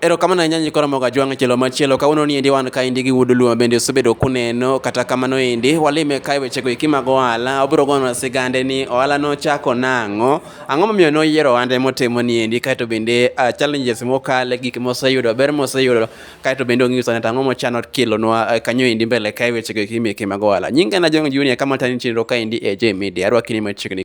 Erokamano ahinya Nyikora Moga Jwang' Chelo Machielo. Kawuono ni endi wan kaendi gi Wuod Luo bende osebedo kuneno kata kamano endi walime kae wechego eki mag ohala obiro gonwa sigande ni ohala nochako nang'o, ang'o momiyo noyiero ohande motimo ni endi kaeto bende uh, challenges mokale gik moseyudo, ber moseyudo kaeto bende ong'iso neta ang'o mochano kelonwa uh, kanyo endi mbele kae wechego eki meke mag ohala. Nyinga na Jong' Junior kama tani chenro kaendi e J Media. Arwakini machiegni.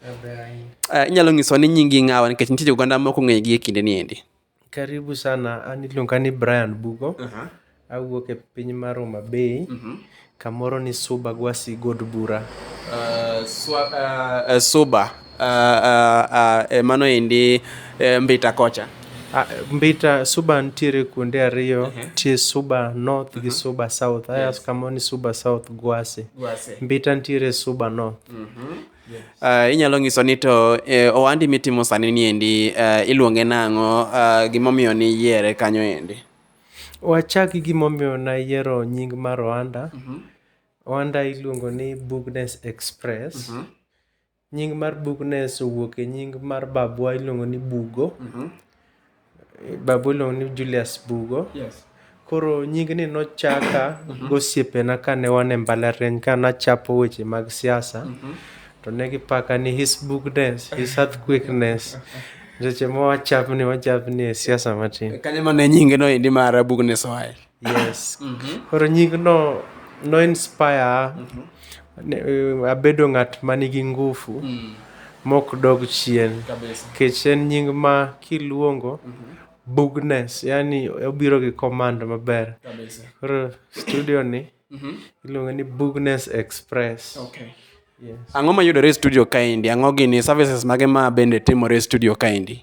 Uh, inyalo nyiso ni nyingi ng'awa nikech nitie oganda moko ng'egi e kinde ni endi karibu sana an iluonga ni brian bugo uh -huh. awuok e piny mar homa bay uh mhm. -huh. kamoro ni suba gwasi god bura uh, swa, uh, uh, suba uh, uh, uh, mano endi uh, mbita kocha Ah, Mbita Suba nitiere kuonde ariyo, uh-huh. nitie Suba North gi uh-huh. Suba South. Aya yes. kama ni Suba South Gwase. Gwase. Mbita nitiere Suba North. Uh-huh. Yes. Uh, inyalo nyiso ni to eh, ohandi mitimo sani ni endi uh, eh, iluonge nang'o uh, gimomiyo ni yiere kanyo endi wachak gi gimomiyo nayiero nying mar ohanda mm-hmm. ohanda iluongo ni bugnes express mm-hmm. Nying mar bug Ness owuok e nying mar babwa iluongo ni Bugo. Mhm. Babwa iluongo ni Julius Bugo. Yes. Koro nyingni nochaka mhm. gosiepena kane wan e mbalariany ka nachapo weche mag siasa. Mhm. To ne gipaka ni his bugness, his earthquakeness. Seche ma wachapni wachapni e siasa matin. Kanye ma ne nyinge no indi mar bugness oae? Yes. Mhm. Koro nyingno no inspire ne- abedo ng'at ma nigi ngufu Mm. mok dog chien. Kabisa. Kech en nying ma kiluongo bugness, yani obiro gi command maber. Kabisa. Koro studio ni Mhm. iluongo ni Bugness Express. Okay. Yes. Ang'o mayudore e studio kaendi? Ang'o gini services mage ma bende timore e studio kaendi?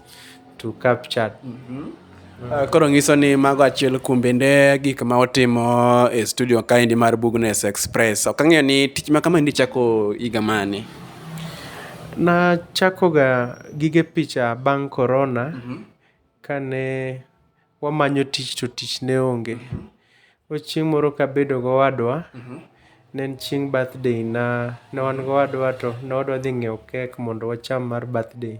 to capture mm -hmm. Uh, koro ngiso ni mago achiel kuom bende gik ma otimo e studio kaendi mar Bugnes Express. Ok ang'eyo ni tich ma kama ni chako higa mane? Na chako ga gige picha bang' corona mm -hmm. kane wamanyo tich to tich ne onge. Koro chieng' moro kabedo gowadwa, ne en chieng' birthday na, ne wan gowadwa to ne wadwa dhi ng'iewo kek mondo wacham mar birthday.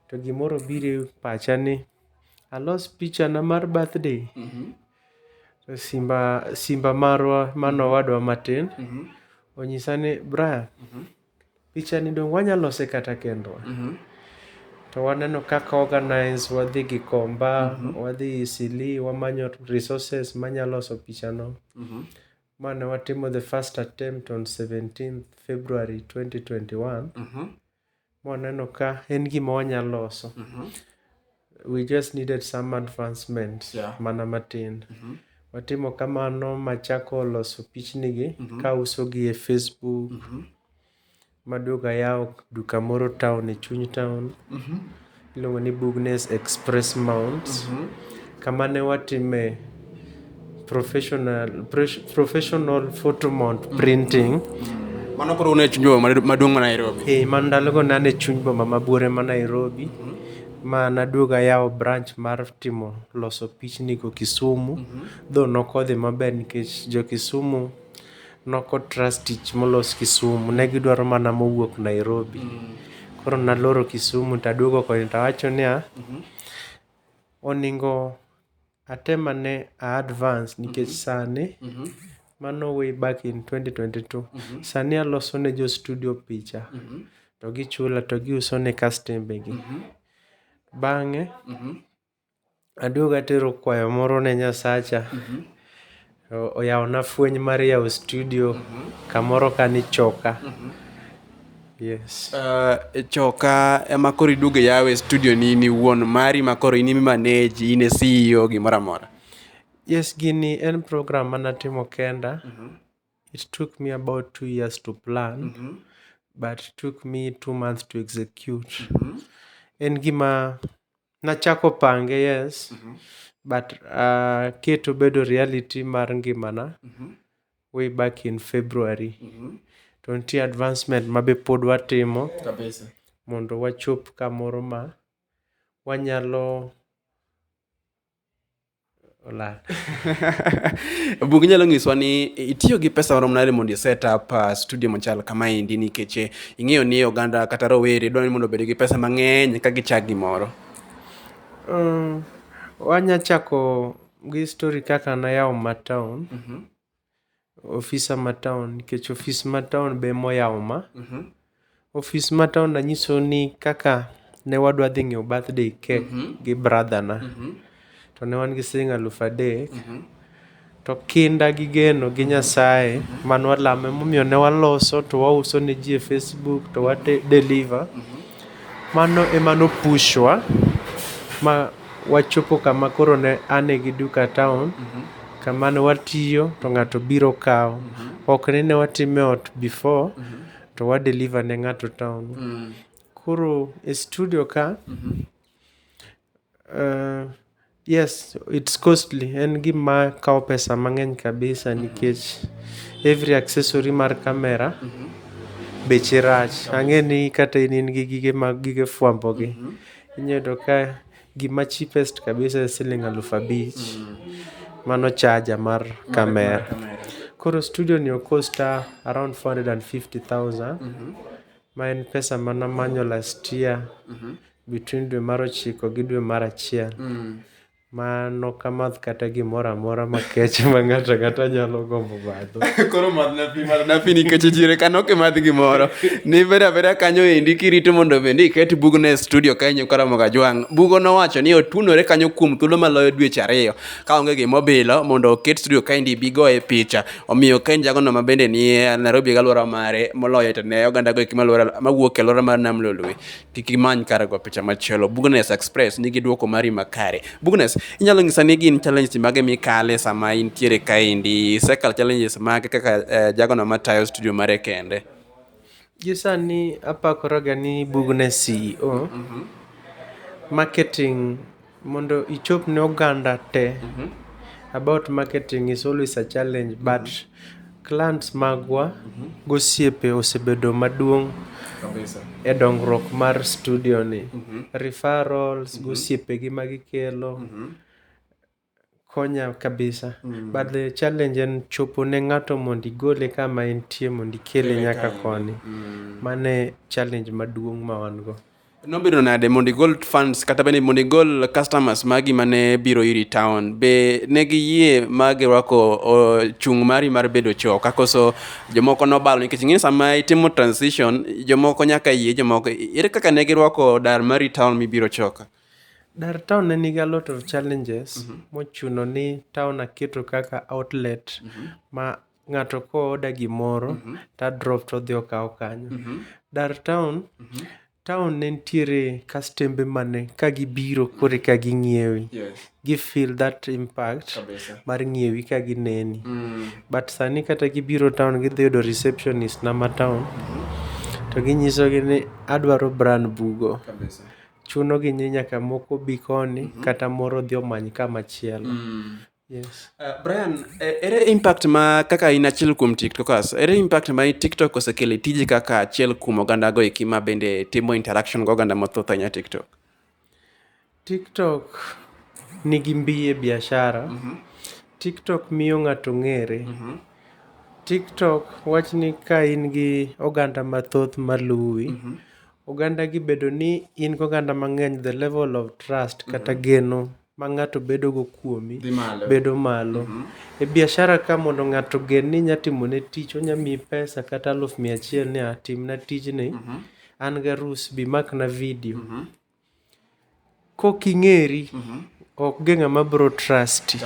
To gimoro obiro e pacha ni alos picha na mar birthday, to simba simba marwa mane owadwa matin onyisa ni Brian. Pichani donge wanyalo lose kata kendwa. To waneno kaka o organize, wadhi Gikomba, wadhi Eastleigh, wamanyo resources manyalo loso pichano. Ma ne watimo the first attempt on 17th February 2021. Mwaneno ka en gima wanyalo loso. We just needed some advancement yeah. mana matin. Mm -hmm. Watimo kamano machako loso pichnigi mm -hmm. ka usogi e Facebook. Mm -hmm. Maduogo ayawo duka moro town e chuny town. Mm -hmm. Iluongo ni Bugnes Express Mount. Mm -hmm. Kama ne watime professional pres- professional photo mount printing Mano koro une chunjo maduong' ma Nairobi. eh, ma ndalogo ne an e chuny boma ma buore ma nairobi ma naduogo ayawo branch mar timo loso pichnigo kisumu dho nokodhi maber nikech jo kisumu noko trust tich molos kisumu ne gidwaro mana mowuok nairobi koro naloro kisumu taduogo koni tawacho niya oningo Atemo ane a advance nikech sani mano way back in 2022. Sani aloso ne jo studio picha to gichula to giuso ne kastembe gi. Bang'e aduogo atero kwayo moro ne Nyasacha. Oyawona fweny mar yawo studio kamoro ka ni choka. Yes. Uh, choka ema koro iduog yawe studio ni in iwuon mari ma koro in imi manage in e CEO gimoro amora. Yes, gini en program manatimo kenda. Mm -hmm. It took me about two years to plan, mm -hmm. but it took me two months to execute. Mm -hmm. En gima Nachako pange yes mm -hmm. but uh, keto bedo reality mar ngimana mm -hmm. way back in February mm -hmm. to nitie advancement ma be pod watimo kabisa mondo wachop kamoro ma wanyalo olal. Bug inyalo nyiswa ni itiyo gi pesa marom nade mondo iset up uh, studio machal kama endi nikech eh, ing'eyo ni oganda kata rowere dwaro ni mondo obed gi pesa mang'eny ka gichak gimoro. Um, wanya chako gi story kaka nayawo matown. Mm -hmm. Ofisa ma town nikech ofis ma town be ema oyawo ma. Ofis ma town anyisou ni kaka ne wadwa dhi ng'iewo birthday cake gi brother na to ne wan gi siling' alufu adek to kinda gi geno gi Nyasaye mane walamo emomiyo ne waloso to wauso ne ji e Facebook to wa deliver. Mano ema no push wa ma wachopo kama koro ne an gi duka e town kama ne watiyo to ng'ato biro kawo. Ok ni ne watime e ot before to wa deliver ne ng'ato e town. Koro e studio ka Yes, it's costly. En gima kawo pesa mang'eny kabisa mm -hmm. nikech every accessory mar kamera mm -hmm. beche rach. Ang'e ni kata in in gi gige mag gige fwambo gi. Mm -hmm. Inyudo ka gima cheapest kabisa e siling alufu abich. Mm -hmm. Mano chaja mar kamera. Mar kamera. Koro studio ni okosta around 450,000. Mm -hmm. Ma en pesa mana manyo last year. Mm -hmm. between dwe mar ochiko gi dwe mar achiel mm. ma nokamath kata gimoro amora makech ma ng'ato ang'ata nyalo gombo madho koro madh napi madh napi nikech chire ka nok imadh gimoro ni bedo abeda kanyo endi kirito mondo bende iket bugno e studio kanyo karamoga jwang' bugo nowacho ni otunore kanyo kuom thuolo maloyo dweche ariyo ka onge gimobilo mondo oket studio kaendi bigo e picha omiyo kaen jagono ma bende ni nairobi galwora mare moloyo to ne oganda go eki mawuok e alwora mar nam lolwe kik imany kar go picha machielo Bugnes Express nigi duoko mari makare Bugnes inyalo nyisa ni gin challenges mage mikale sama intiere kaendi isekal challenges mage kaka eh, jagono matayo studio mare kende gi sani apakoraga ni Bugnes CEO marketing Mondo ichop ne oganda te, about marketing is always a challenge but clans magwa gosiepe osebedo maduong' e dongruok mar studio ni. Referrals gosiepe gi magikelo. Konya kabisa. Mm. But the challenge en chopo ne ng'ato mondo igole kama entie mondo ikele nyaka koni. Mm. Mane challenge maduong' ma wan go. Nobedo nade mondo igol funds kata bende mondo igol customers magi mane biro iri town be ne giyie ma girwako chung' mari mar bedo choo kakoso jomoko nobalo nikech ing'e sama itimo transition jomoko nyaka yie jomoko ere kaka ne girwako dar mari town mibiro choka Dar town ne nigi a lot of challenges mm -hmm. mochuno ni town aketo kaka outlet mm -hmm. ma ng'ato ko oda gimoro mm -hmm. ta drop to dhi okawo kanyo. Mm -hmm. Dar town mm -hmm. town ne nitiere kastembe mane ka gibiro kore ka ging'iewi yes. gi feel that impact Kabisa. mar ng'iewi ka gineni mm. but sani kata gibiro town gidhi yudo receptionist na ma town mm -hmm. to ginyisogi ni adwaro brand bugo Kabisa. chuno gi nyi nyaka moko bi koni mm -hmm. kata moro dhi omany kama chielo mm. Yes. Uh, Brian, eh, ere impact ma kaka in achiel kuom TikTokers, ere impact ma TikTok osekelo e tiji kaka achiel kuom oganda go eki ma bende timo interaction go oganda mathoth ahinya TikTok? TikTok nigi mbiye biashara. Mm -hmm. TikTok miyo ng'ato ng'ere. Mm -hmm. TikTok wachni ka in gi oganda mathoth maluwi, mm -hmm. Ogandagi bedo ni in gi oganda mang'eny the level of trust kata geno ma ng'ato bedogo kuomi bedo malo. E biashara ka mondo ng'ato ogen ni inyalo timone tich, onyalo miyi pesa kata aluf mia achiel ni a timna tijni, an gi arus, bi imakna video. Kok ing'eri ok nge ng'ama biro trust i.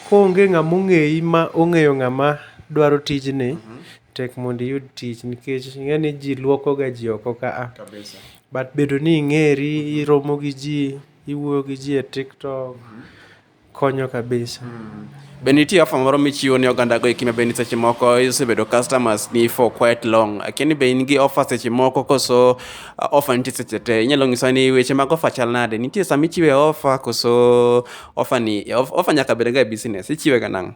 Konge ng'ama ong'eyi ma ong'eyo ng'ama dwaro tijni, tek mondo iyud tich nikech ing'e ni ji luoko ga ji oko ka a. But bedo ni ing'eri, iromo gi ji, iwuoyo gi ji e tiktok. Konyo kabisa. Mm. Be nitie offer moro michiwo ne oganda go ekima be ni seche moko isebedo customers ni for quite long. Akiani be in gi offer seche moko koso uh, offer nitie seche te. Inyalo ng'isa ni weche mag offer chal nade? Nitie sama ichiwe offer koso offer ni offer nyaka bed ga e business. Ichiwe ga nang'?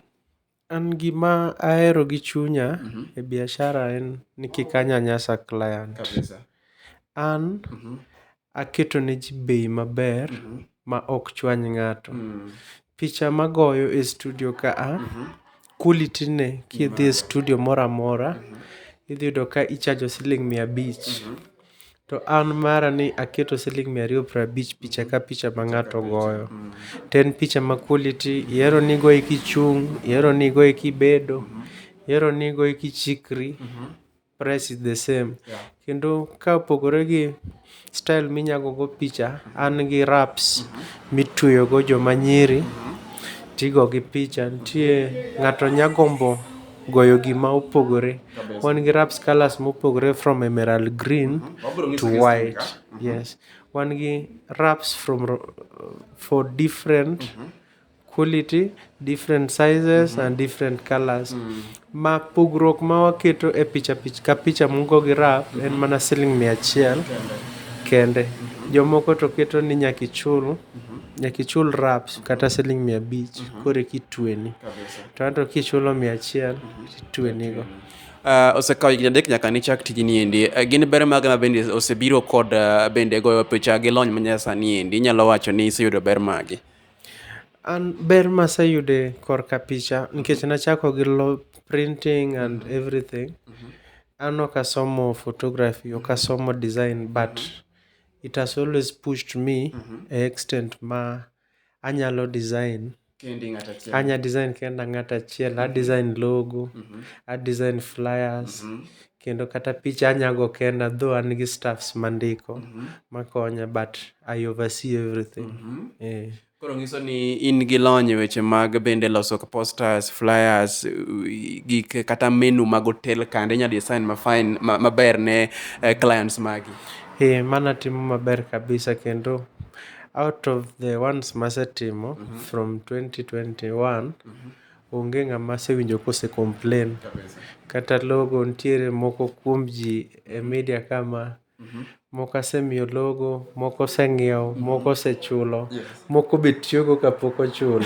An gima ahero gi chunya e biashara en ni kik anyanyasa client. An aketo ne ji bei maber ma ok chwany ng'ato. Picha ma agoyo e studio ka a, quality ne kidhi e studio moro amora idhi yudo ka ichajo siling' mia abich. To an mara ni aketo siling' mia ariyo prabich picha ka picha ma ng'ato goyo. To en picha ma quality, ihero ni igoye kichung', ihero ni igoye kibedo, ihero ni igoye kichikri, price is the same. Kendo ka opogore gi style minya gogo picha, an gi wraps mitweyogo joma nyiri tigogi picha. Nitie ng'ato nya gombo. goyo gi ma opogore. Wan gi raps colours ma opogore from emerald green to white. Yes. Wan gi raps from for different quality, different sizes and different colours. Ma pogruok ma waketo e picha picha ka picha ma ugo gi rap en mana siling mia achiel kende. Jomoko to keto ni nyaka ichul nyaka ichul raps kata siling mia abich koreka itweni. To anto kichulo mia achiel titwenigo. Uh, osekawo higni adek nyaka nichak tijni endi. Uh, gin ber mage ma bende osebiro kod uh, bende goyo picha gi lony manyasani endi inyalo wacho ni iseyudo ber mage? An ber maseyude korka picha nikech nachako gi lo printing and mm-hmm. everything. Mm-hmm. An ok asomo photography, ok asomo design but mm-hmm. it has always pushed me mm-hmm. a extent ma anyalo design kendi ng'at achiel. Anya design kenda ng'at achiel, a design logo, a design flyers, kendo kata picha anyago kenda though an gi staffs mandiko makonya but I oversee everything. Eh. Koro nyiso ni in gi lony e weche mag bende loso posters, flyers, u- gik kata menu mag hotel kande inya design ma fine ma- maber ne eh, clients magi. Eh, mana timo maber kabisa kendo out of the ones masetimo mm -hmm. from 2021 mm -hmm. onge ng'ama asewinjo kose complain Kabisa. kata logo ntiere moko kuom ji e media kama mm -hmm. moko asemiyo logo moko oseng'iewo mm -hmm. moko osechulo yes. moko be tiyogo kapok ochulo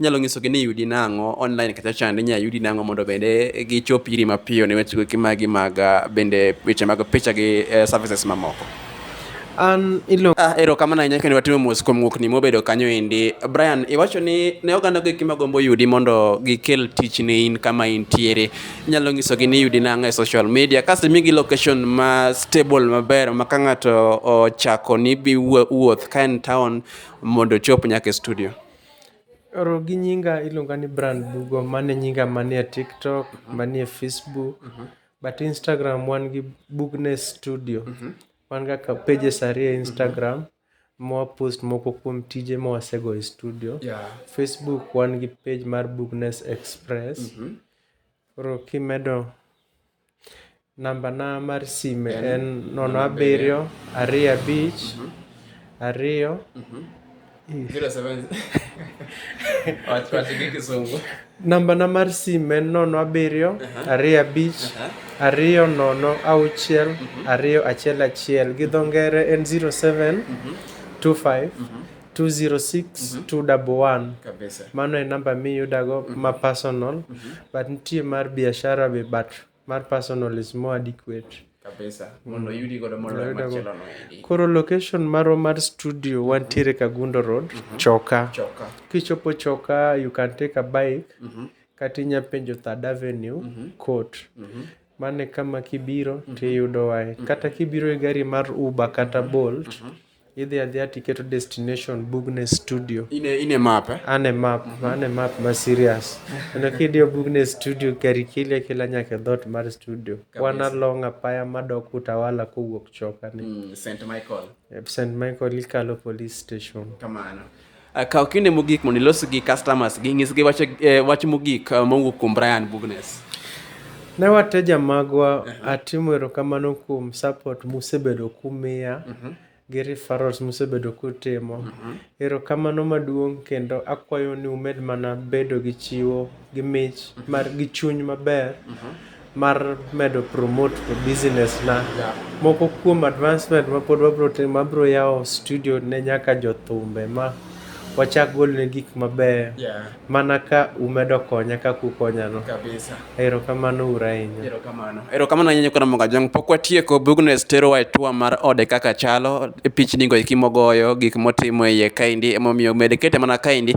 Inyalo nyisogi ni yudi nang'o online kacha chande inyalo yudi nang'o mondo bende gichop iri mapiyo ne weche goeki magi mag ah, bende weche mag picha gi eh, services mamoko. An iluongo Ah, erokamano ahinya kendo watimo mos kuom ng'ukni mobedo kanyo endi. Brian, iwacho ni ne oganda goeki magombo yudi mondo gikel tich ne in kama intiere. Inyalo nyisogi ni yudi nang'o e social media kasto imigi location ma stable maber ma ka ng'ato ochako ni bi wuo- wuoth ka en town mondo ochop nyaka e studio. Oro gi nyinga iluonga ni Brian Bugo, mano e nyinga manie Tiktok, manie Facebook, but Instagram wan gi Bugness Studio. Wan ga ka pages ariyo e Instagram mwa post moko kuom tije ma wasego e studio. Yeah. Facebook wan gi page mar Bugness Express. Koro kimedo Namba na mar sime en nono abiriyo ariyo abich ariyo Namba na mar sime en nono abiriyo ariyo abich ariyo nono auchiel ariyo achiel achiel gi dho ngere en zero seven two five 206-211 mhm. kabisa mano e namba miyudago mm -hmm. ma personal mm -hmm. but nitie mar biashara be but mar personal is more adequate kabisa mm. mondo mm. yudi godo moloyo machielo no endi koro location marwa mar studio mm-hmm. wantiere kagundo road mm -hmm. choka choka kichopo choka you can take a bike mm -hmm. kata inya penjo third avenue mm -hmm. court mm -hmm mane kama kibiro mm -hmm. tiyudo wae mm -hmm. kata kibiro e gari mar uber kata mm-hmm. bolt mm -hmm Idhi adhiya tiketo destination Bugness Studio. In a, in a map, eh? An a map, an a map ma serious. Kendo kidiyo Bugness Studio gari kila kila nyaka e dhoot mar studio. Wan along apaya madok Utawala kowuok Choka ni. Mm, St. Michael. St. Michael ikalo police station. Kamano. Eh, kaw kinde mogik mondo ilos gi customers gi nyisgi wach, eh, wach mogik eh, mowuok kuom Brian Bugnes. Ne wateja magwa uh -huh. atimo erokamano kuom support musebedo kumiya uh mhm. -huh. gi referrals musebedo kutimo uh mhm. -huh. erokamano maduong' kendo akwayo ni umed mana bedo gi chiwo gi mich uh mhm. -huh. mar gi chuny maber uh -huh. mar medo promote e business na. Moko kuom advancement ma pod wabro timo, abro yawo studio ne nyaka jothumbe ma wachak gol ne gik mabeyo. Yeah. Mana ka umedo konya kaka ukonya no. Kabisa. Erokamano ura ahinya. Erokamano. Erokamano ahinya Nyakona Monga Jong. Pok watieko, Bugnes terowa e tour mar ode kaka chalo, e pichni go eki mogoyo, gik motimo e iye kaendi emomiyo med kete mana kaendi.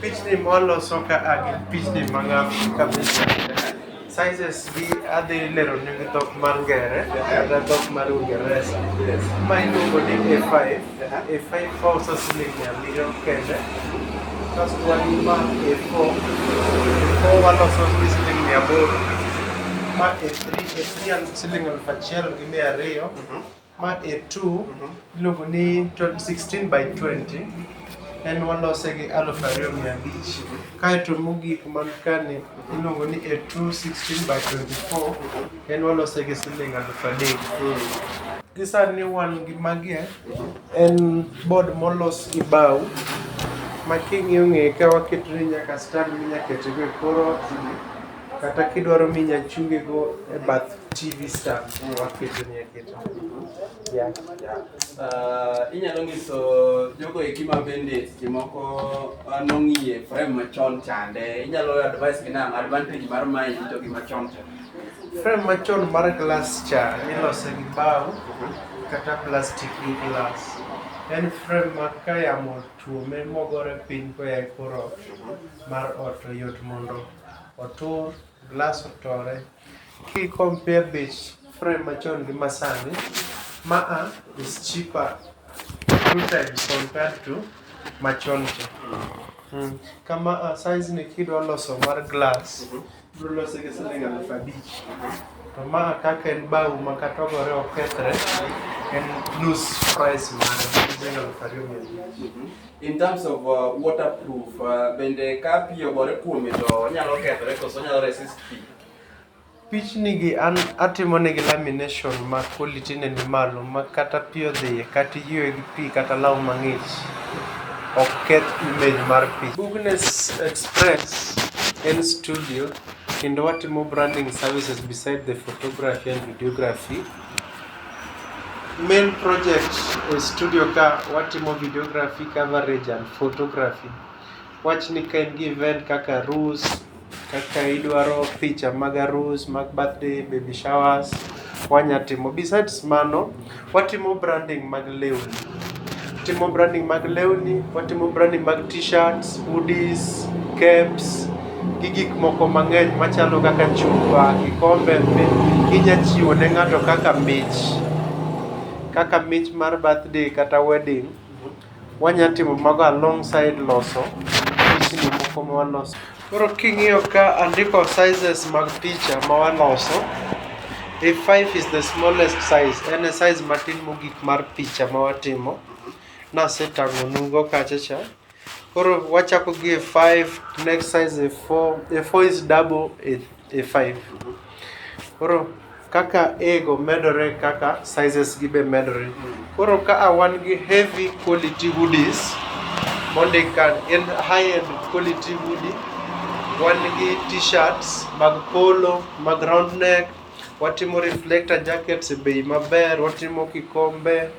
Pichni mwaloso ka a gin pichni ma ng'ato ka picha sizes gi adhi lero ni gi dhok mar ngere kata dhok mar ungeresa ma iluongo ni a5 a5 kauso siling mia abiriyo kende kasto wan gi ma a4 a4 waloso gi siling mia aboro ma a3 a3 siling aluf achiel gi mia ariyo Ma A2 iluongo ni 16 by 20 en walose gi aluf ariyo mia abich kaeto mogik man kani iluongo ni A2 16 by 24 en walose gi siling aluf adek gi sani wan gi magie en bod molos gi bao ma king'iyo ng'eye ka waketone nyaka stand minya ketego e kor ot kata kidwaro minya chunge go e bath TV stand ma waketo ni aketo. Yeah. Uh, inyalo nyiso jogo eki ma bende seche moko uh, nong'iye frame machon chande inyalo advice gi nang' advantage mar mae to gi machon cha Frame machon mar glass cha ilose gi bao kata plastic gi glass. En frame ma ka yamo tuome mogore piny koya e kor ot mar ot to yot mondo otur, glass otore. Ki compare bech frame machon gi masani, ma a is cheaper two times compared to machon cha. Mm. Ka ma a size ni kidwa loso mar glass, ibro lose gi siling aluf abich. To ma a kaka en bao ma kata ogore okethre, en nus price mare, siling aluf ariyo mia abich. In terms of uh, waterproof, uh, bende ka pi ogore kuome to onyalo kethore koso onyalo resist pi? Pichni gi an atimo negi lamination ma quality ne ni malo ma kata pi odhiye kata iywe gi pi kata law mang'ich ok keth image mar pi. Bugnes Express en studio kendo watimo branding services beside the photography and videography. Main project e studio ka watimo videography, coverage and photography. Wach ni ka in gi event kaka arus, kaka idwaro picha mag arus, mag birthday, baby showers, wanya timo. Besides mano, watimo branding mag lewni. Watimo branding mag lewni, watimo branding mag t-shirts, hoodies, caps gi gik moko mang'eny machalo kaka chupa, kikombe inya chiwo ne ng'ato kaka mich, kaka mich mar birthday kata wedding. Wanya timo mago alongside loso moko mwaloso. Koro king'iyo ka andiko sizes mag picha ma waloso, A5 is the smallest size, en e size matin mogik mar picha ma watimo. Nasetang'onugo kacha cha. Koro wachako gi A5, next size A4, A4 is double A5. Koro kaka A go medore e kaka sizes gi be medore. Koro ka a wan gi heavy quality hoodies mondik ka en high end quality hoodie, wan gi t-shirts mag polo, mag round neck, watimo reflector jackets e bei maber, watimo kikombe.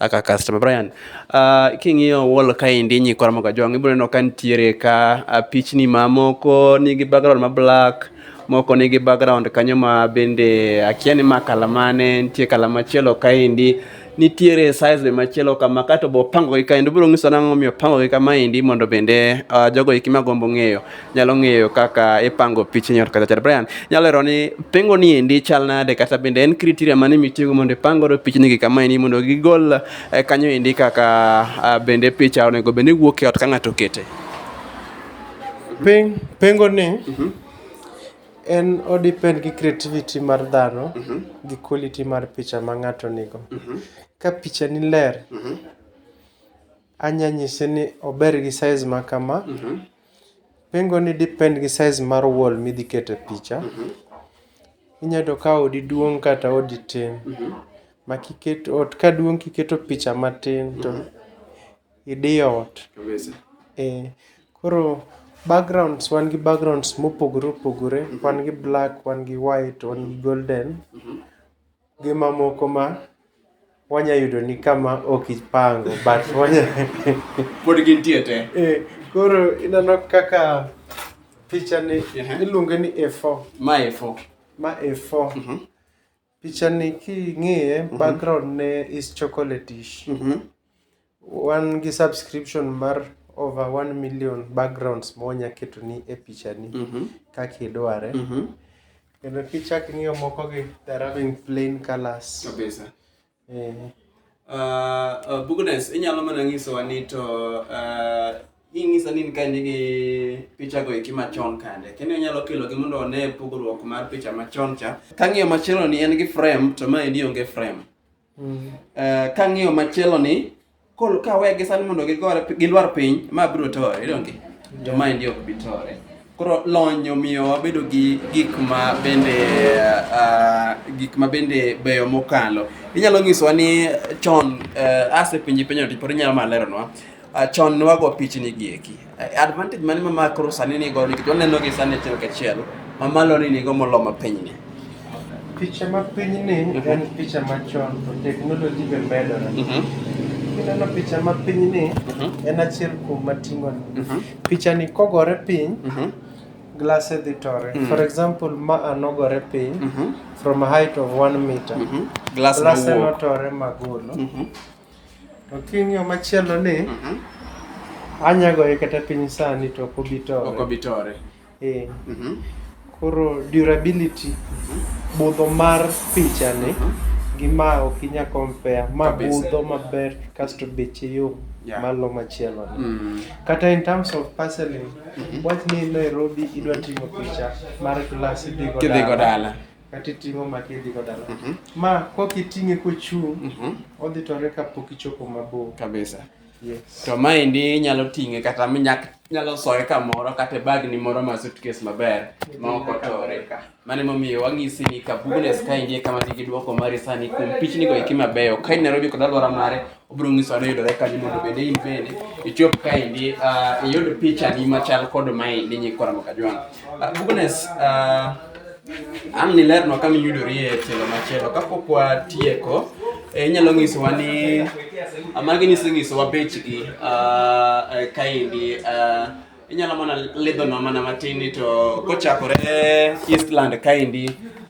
aka customer Brian uh, king'iyo wall kaendi nyikwa Ramogi Ajwang' ibiro neno ka nitiere ka uh, pichni mamoko nigi background ma black moko nigi background kanyo ma bende akia ni ma kala mane nitie kala machielo kaendi nitiere size be machielo kama kato bo pango gi kaendi biro nyiso nang'o miyo pango gi kama endi mondo bende uh, jogo eki magombo ng'eyo nyalo ng'eyo kaka ipango pichni ot kata chat. Brian, nyalo lero ni pengo ni endi chal nade kata bende en criteria mane mitiyogo mondo ipang godo pichni gi kama endi mondo gigol eh, kanyo endi kaka ah, bende picha onego bende wuok e ot ka ng'ato okete. Peng, pengo ni Mhm. en odepend gi creativity mar dhano Mhm. gi quality mar picha ma ng'ato nigo. Mhm. Ka picha ni ler, Mhm. Anya nyise ni ober gi size ma kama. Pengo ni depend gi size mar wall midhi kete picha. Inya yudo ka odi duong' kata odi tin. Ma kiket ot ka duong' kiketo picha matin to idiyo ot. Ee, koro backgrounds wan gi backgrounds mopogore opogore. Wan gi black, wan gi white, wan gi golden. Gi mamoko ma wanya yudo ni ka ma ok ipango but wanya. Pod gintie te. Eh, koro ineno kaka picha ni Ehe. iluonge ni A4. Ma efo. Ma A4. Mhm. Picha ni king'iye background ne is chocolate-ish. Mhm. Wan gi subscription mar over one million backgrounds ma wanya ketoni e pichani Mhm. kaka idware. Mhm. Kendo kichak ing'iyo moko gi they're having plain colors. Kabisa. Eh, Uh, uh, Bugnes, inyalo mana nyisowa ni to uh, inyisa ni ka in gi pichago eki machon kande. Kendo inyalo kelogi mondo one pogruok mar picha machon cha. Kang'iyo machielo ni en gi frame to ma endi onge frame. Mm. Eh, kang'iyo machielo ni kol kawe gi sani mondo gigore gilwar piny ma biro tore idonge to ma endi ok bi tore koro lony omiyo wabedo gi gik ma bende uh, gik ma bende beyo mokalo inyalo nyisowa ni chon uh, ase pinji penyo to pod inyalo mana leronwa Uh, chon ne wago pichni gi eki. Uh, advantage mane ma makro sani ni go ni to neno gi sani achiel ka achiel ma malo ni nigo molo ma piny ni. Picha ma piny ni mm -hmm. en picha ma chon to technology be medore. Mm -hmm. Kineno picha ma piny ni mm -hmm. en achiel kuom mating'o ni. Mm -hmm. Picha ni kogore piny mm -hmm. glass e dhi tore. Mm -hmm. For example ma anogore piny mm -hmm. from a height of 1 meter. Mm -hmm. Glass, glass e notore magolo. Mm -hmm. To king'iyo machielo ni Mhm. anyagoye kata piny sani to ok obi Ok tore. obi tore. Eh, Mhm. Koro durability budho mar pichani gi ma ok inya compare ma Kabisa. budho maber kasto beche yom Yeah. malo machielo ni. Mm. Kata in terms of parceling, wach ni Nairobi idwa timo picha mar glass idhigo Kidhigo dala. kata iting'o ma kidhigo dala Mhm. ma kok iting'e kochung' Mhm. odhi tore kapok ichopo mabor kabisa yes. to maendi inyalo ting'e kata minyak nyalo soye kamoro kata e bagni moro ma suitcase maber ma ok otore mano emomiyo wang'isi ni kabugunes kaendi e kama nigi dwoko mari sani kuom pichnigo eki mabeyo ka in nairobi kod alwora mare obiro nyiso ni yudore kanyo mondo bende in bende ichop kaendi ah, iyud pichani machal kod maendi nyikwa Ramoka Jwang'. Ah, Bugnes, ah, an nilerno kama iyudori e tielo machielo kapok watieko eh, inyalo nyisowa ni ah, magi nisenyisowa bechgi ah, eh, kaendi ah, Inyalo mana lidho no mana matin to kochakore Eastland kaendi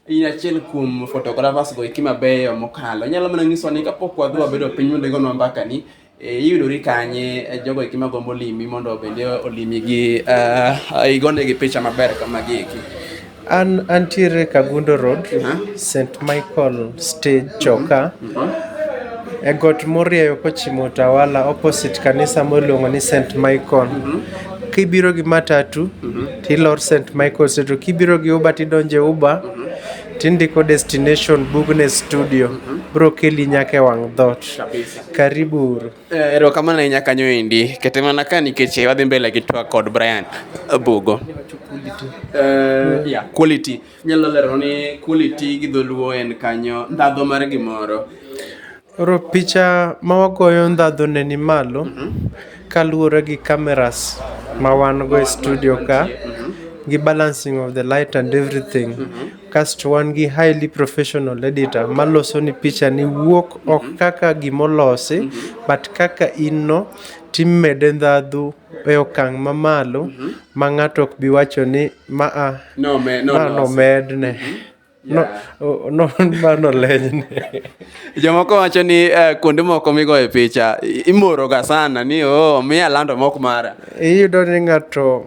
in achiel kuom photographers go eki mabeyo mokalo. Inyalo mana nyiso ni kapok wadhi wabedo piny mondo igonwa mbaka ni e, iyudori kanye e, jogo eki magombo limi mondo bende olimi gi uh, igonegi picha maber kama gi eki. An antiere Kagundo Road, St. Michael Stage Choka. E got morieyo kochimo Utawala opposite kanisa miluongo ni St. Michael. Kibiro gi matatu tilor St. Michael Stage to kibiro gi Uber tidonje Uber tindiko destination Bugne Studio. Bro keli nyaka e wang' dhoot. Karibu uru. Eh, erokamano ahinya kanyo endi. Kete mana ka nikech eh, wadhi mbele gi twak kod Brian Bugo. Uh, yeah, quality. Nyalo lero ni quality gi dholuo en kanyo ndhadho mar gimoro. Oro picha ma wagoyo ndhadho ne ni malo mm -hmm. kaluwore gi cameras ma wan go e studio ka mm -hmm. gi balancing of the light and everything mm -hmm. Kasto wan gi highly professional editor maloso ni picha ni wuok ok mhm. kaka gimolosi mm -hmm. but kaka in no timede ndhadhu e okang' mamalo mm -hmm. ma ng'ato ok bi wacho ni maa no, me, no, ma no, nomedne mm -hmm. No, no, mano lenyne jomoko wacho ni uh, kuonde moko migoye picha imoroga sana ni oh, miya lando mok mara iyudo ni ng'ato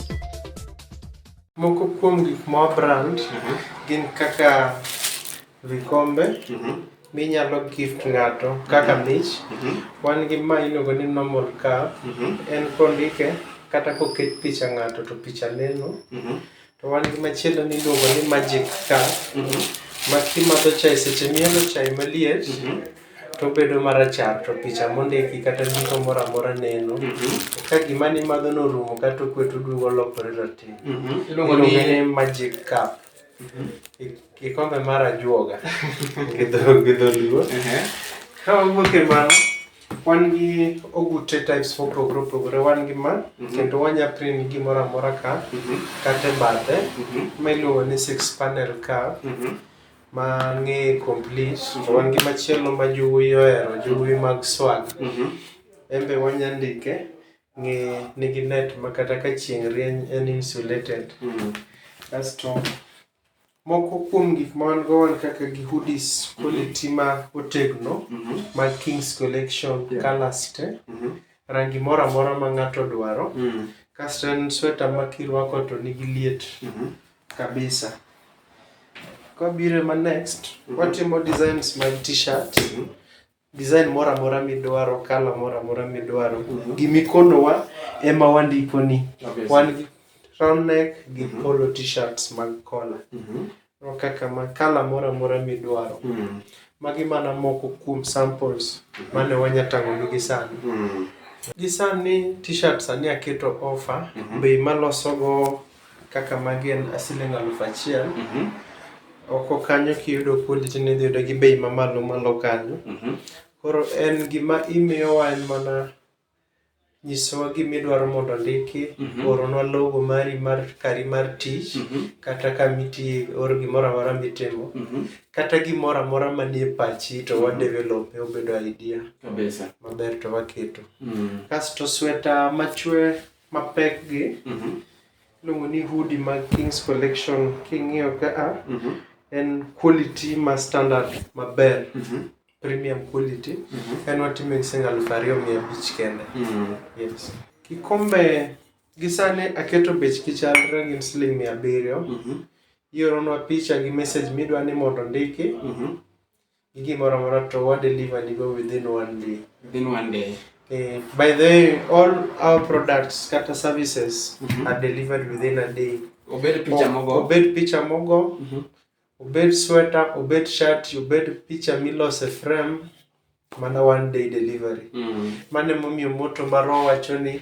Moko kuom gik ma wabrand mhm. gin kaka vikombe mhm. minyalo gift ng'ato kaka mhm. mich. Wan gi ma iluongo ni normal cup, en kondike kata koket picha ng'ato to picha neno. To wan gi machielo miluongo ni magic cup ma kimadho chae seche mielo chae maliet to bedo marachar to picha mondiki kata ndiko moro amora neno mhm. ka gima ni madho norumo kata okwet oduogo lokore rateng' mhm. iluongo ni magic cup mhm. kikombe mar ajuoga gi dholuo ka wawuok e mano wan gi ogute types for pogore opogore wan gi ma kendo wanya print gimoro amora ka kata e bathe ma iluongo ni six panel ka mang'e complete to wan gi machielo ma jowuoyi ohero jowuoyi mag swag Mhm. en be wanya ndike ng'e nigi net ma kata ka chieng' rieny en insulated Mhm. kasto moko kuom gik ma wan go wan kaka gi hoodies quality ma otegno Mhm. mag kings collection Yeah. colors te Mhm. rangi moro amora ma ng'ato dwaro Mhm. kasto en sweta ma kirwako to nigi liet Mhm. Kabisa. Kwabiro e ma next, watimo designs mag t-shirt, design moro amora midwaro, colour moro amora midwaro. Gimikonowa ema wandikoni. Kabisa. Wan gi round neck gi Mhm. polo t-shirts mag collar. Mhm. Ro kaka ma colour moro amora midwaro. Mm. Magi mana moko kuom samples mane wanya tang'onu gi sani. Mm. Gi sani t-shirt sani aketo offer, Mhm. bei malosogo Kaka magi en siling' aluf achiel. Oko kanyo kiyudo kuondi to idhi yudo gi bei mamalo malo kanyo. Koro en gima imiyowa en mana nyisowa gima idwaro mondo ondiki, oronwa logo mari mar kari mar tich, kata kama itiye, or gimoro amora mitimo. Kata gimoro amora manie pachi to wa develop e obedo idea Kabisa. maber to waketo. Kasto sweta machwe mapek gi Mhm. iluongo ni hoodie mag Kings Collection king'iyo ka a Mhm. en quality ma standard maber Mhm. premium quality Mhm. en watimo gi sing aluf ariyo mia abich kende Mhm. yes. kikombe gi sani aketo bech kichalre gin siling mia abiriyo Mhm. ioronwa picha gi message midwa ni mondo ndiki Mhm. gi gimoro amora to wa deliver ni go within one day within one day Eh, by the way all our products kata services Mhm. are delivered within a day obed picha O- mogo obed picha mogo Mhm. obed sweater obed shirt obed picha milose frame mana one day delivery Mm. mano emomiyo moto marwa wacho ni